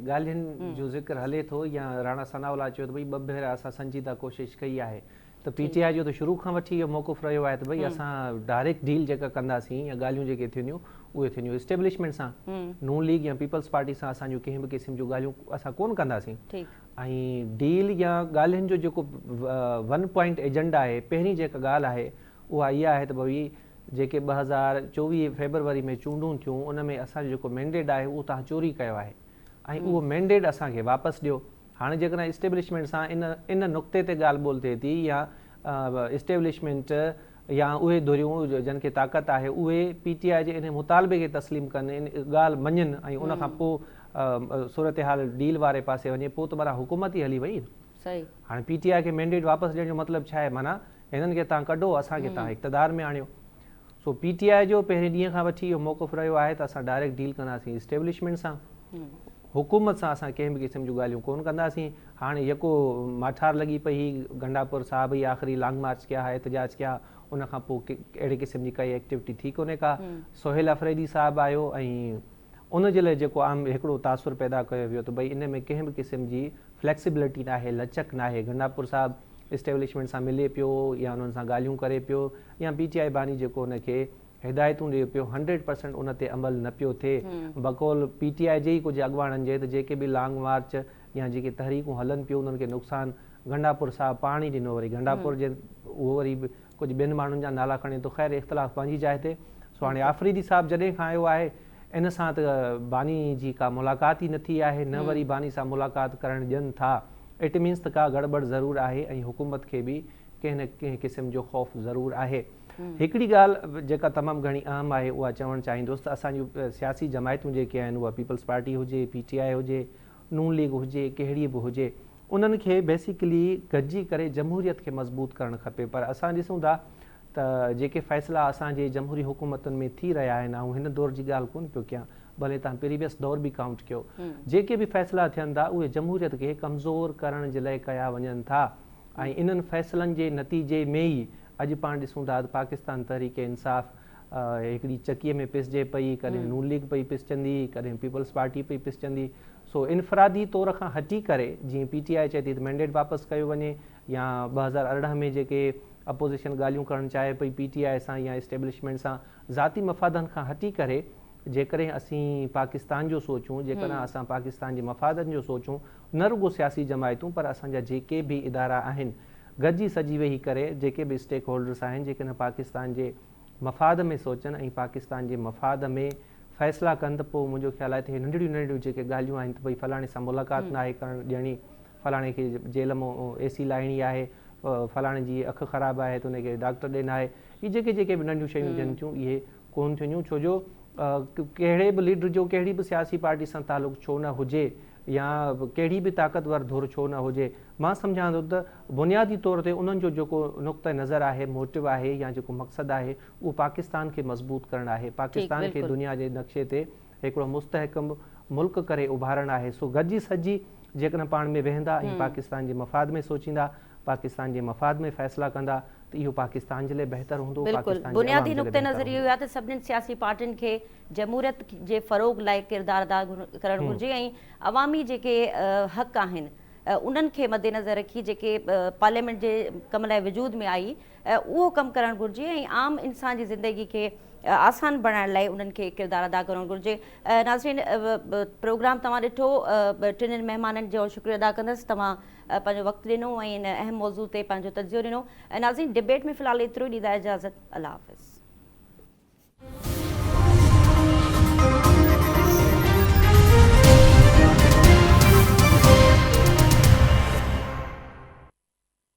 ڳالهين جو ذڪر هلي ٿو يا راڻا ثناء الله چيو ته ڀئي ٻه ڀيرا اسان سنجيده ڪوشش ڪئي آهي ته پي ٽي آء جو ته شروع کان وٺي اهو موقف رهيو آهي ته ڀئي اسان ڊائريڪٽ ڊيل جيڪا ڪنداسين يا ڳالهيون جيڪي ٿينديون اهي ٿينديون اسٽيبلشمينٽ سان نون ليگ يا پيپلز پارٽي سان اسان جون ڪنهن به قسم جون ڳالهيون اسان ڪون ڪنداسين ۽ ڊيل يا ڳالهين جو جيڪو ون پوائنٽ ايجنڊا آهي پهرين جيڪا ڳالهه آهي اها اها آهي ته ڀئي جيڪي ٻه هزار چوويهه فيبروري ۾ چونڊون ٿيون ان ۾ اسان جو جيڪو مينڊيٽ آهي اهو توهان چوري ڪيو آهي ۽ اهو مينڊيٽ اسان کي واپس ڏيو هاڻي جيڪڏهن اسٽيبلشمينٽ سان ان ان نقطي تي ڳالهه ٻولهه ٿئي ٿي يا اسٽيبلشمينٽ يا اهي ڌريون جن کي طاقت آهي اهي پي ٽي آء جي انهي مطالبي کي تسليم ڪن ان ڳالهه مڃن ۽ ان کان پوء صورتحال ڊيل واري پاسي وڃي پوء ته برا حڪومت ئي هلي وئي صحيح. هاڻي پي ٽي آء کي مينڊيٽ واپس ڏيڻ جو مطلب ڇا آهي معنيٰ هنن کي تان ڪڍو اسان کي تان اقتدار ۾ آڻيو سو پي ٽي آء جو پهرين ڏينهن کان وٺي اهو موقف رهيو آهي ته اسان ڊائريڪٽ ڊيل ڪنداسين اسٽيبلشمينٽ سان حڪومت سان اسان ڪنهن به قسم جون ڳالهيون ڪون ڪنداسين هاڻي يڪو ماٺار لڳي پئي هي گنڊاپور صاحب هي آخري لانگ مارچ ڪيا ها احتجاج ڪيا ان کان پوء اهڙي قسم جي ڪائي ايڪٽيوٽي ٿي ڪونهي ڪا سهيل افريدي صاحب آيو ۽ ان جي لاء جيڪو عام هڪڙو تاثر پيدا ڪيو ويو ته ڀئي ان ۾ ڪنهن به قسم جي Flexibility ناهي، لچڪ ناهي، گنڊاپور صاحب اسٽيبلشمينٽ سان ملي پيو يا انهن سان ڳالهيون ڪري پيو يا پي ٽي آء باني جيڪو ان کي هدايتون ڏي پيو هنڊريڊ پرسنٽ ان تي عمل نه پيو ٿئي بقول پي ٽي آء جي ئي ڪجهه اڳواڻن جي ته جيڪي به لانگ مارچ يا جيڪي تحريڪون هلن پيون انهن کي نقصان گنڊاپور صاحب پاڻ ئي ڏنو وري گنڊاپور جي اهو وري ڪجهه ٻين ماڻهن جا نالا کڻي ٿو خير اختلاف پنهنجي جاء تي سو هاڻي آفريدي صاحب جڏهن کان آيو آهي ان سان ته باني جي ڪا ملاقات ئي نه ٿي آهي نه وري باني سان ملاقات ڪرڻ ڏين ٿا اٽ مينس ته ڪا گڙٻڙ ضرور آهي ۽ حڪومت کي به ڪنهن نه ڪنهن قسم جو خوف ضرور آهي هڪڙي ڳالهه جيڪا تمام گهڻي اهم آهي اها چوڻ چاهيندس ته اسان جون سياسي جماعتون جيڪي آهن اها پيپلز پارٽي هجي پي ٽي آء هجي نون ليگ هجي ڪهڙي به هجي انهن کي بيسيڪلي گڏجي ڪري جمهوريت کي مضبوط ڪرڻ کپي پر اسان ڏسون ٿا ته جيڪي فيصلا اسان جي جمهوري حڪومتن ۾ ٿي رهيا آهن آئون هن دور جي ڳالهه ڪونه پيو ڪيان ڀلي تهان پريويس دور به ڪائونٽ ڪيو جيڪي به فيصلا ٿين ٿا اهي جمهوريت کي ڪمزور ڪرڻ جي لئه ڪيا وڃن ٿا ۽ انهن فيصلن جي نتيجي ۾ ئي اڄ پاڻ ڏسون ٿا ته پاڪستان تحريڪ انصاف هڪڙي چڪيء ۾ پسجي پئي، ڪڏهن نون ليگ پئي پسجندي، ڪڏهن پيپلز پارٽي پئي پسجندي، سو انفرادي طور کان هٽي ڪري جيئن پي ٽي آء چئي ٿي ته مينڊيٽ واپس ڪيو وڃي يا ٻه هزار ارڙهن ۾ جيڪي اپوزيشن ڳالهيون ڪرڻ چاهي پئي پي ٽي آء سان يا اسٽيبلشمينٽ سان ذاتي مفادن کان هٽي ڪري جيڪڏهن اسين پاڪستان جو سوچون، جيڪڏهن اسان پاڪستان جي مفادن جو سوچون، نه رڳو سياسي جماعتون پر اسان جا جيڪي به ادارا آهن گڏجي سڄي ويهي ڪري جيڪي به اسٽيڪ هولڊرس آهن جيڪڏهن پاڪستان جي مفاد ۾ سوچن ۽ پاڪستان جي مفاد ۾ فيصلا ڪن ته پوء منهنجو خيال آهي ته هي ننڍڙيون ننڍڙيون جيڪي ڳالهيون آهن ته ڀئي فلاڻي سان ملاقات ناهي ڪرڻ ڏيڻي فلاڻي کي جيل مان اي سي لائڻي آهي فلاڻي جي اک خراب آهي ته ان کي ڊاڪٽر ڏي ناهي اهي جيڪي جيڪي به ننڍيون شيون ٿين ٿيون اهي ڪون ٿينديون ڇو جو ڪهڙي به ليڊر جو ڪهڙي به سياسي پارٽي سان تعلق ڇو نه هجي يا ڪهڙي به طاقتور ڌر ڇو نه هجي مان سمجهان ٿو ته بنيادي طور تي انهن جو جيڪو نقطه نظر آهي موٽو آهي يا جيڪو مقصد آهي اهو پاڪستان کي مضبوط ڪرڻ آهي پاڪستان کي دنيا جي نقشي تي هڪڙو مستحڪم ملڪ ڪري اڀارڻ آهي سو گڏجي سڏجي جيڪڏهن پاڻ ۾ ويهندا ۽ پاڪستان جي مفاد ۾ سوچيندا پاڪستان جي مفاد ۾ فيصلا ڪندا ته اهو پاڪستان جي لاء بهتر هوندو بلڪل بنيادي نقطه نظر اهو آهي ته سڀني سياسي پارٽين کي جمهوريت جي فروغ لاء ڪردار ادا ڪرڻ گهرجي ۽ عوامي جيڪي حق آهن انهن کي مدنظر رکي جيڪي پارليامينٽ جي ڪم لاء وجود ۾ آئي اهو ڪم ڪرڻ گهرجي ۽ عام انسان جي زندگي کي آسان بڻائڻ لاء انهن کي ڪردار ادا ڪرڻ گهرجي ناظرين پروگرام توهان ڏٺو ٽنهن مهمانن جو شڪريو ادا ڪندس توهان پنهنجو وقت ڏنو ۽ ان اهم موضوع تي پنهنجو تجزيو ڏنو ناظرين ڊبيٽ ۾ في الحال ايترو ئي ڏيندا اجازت الله حافظ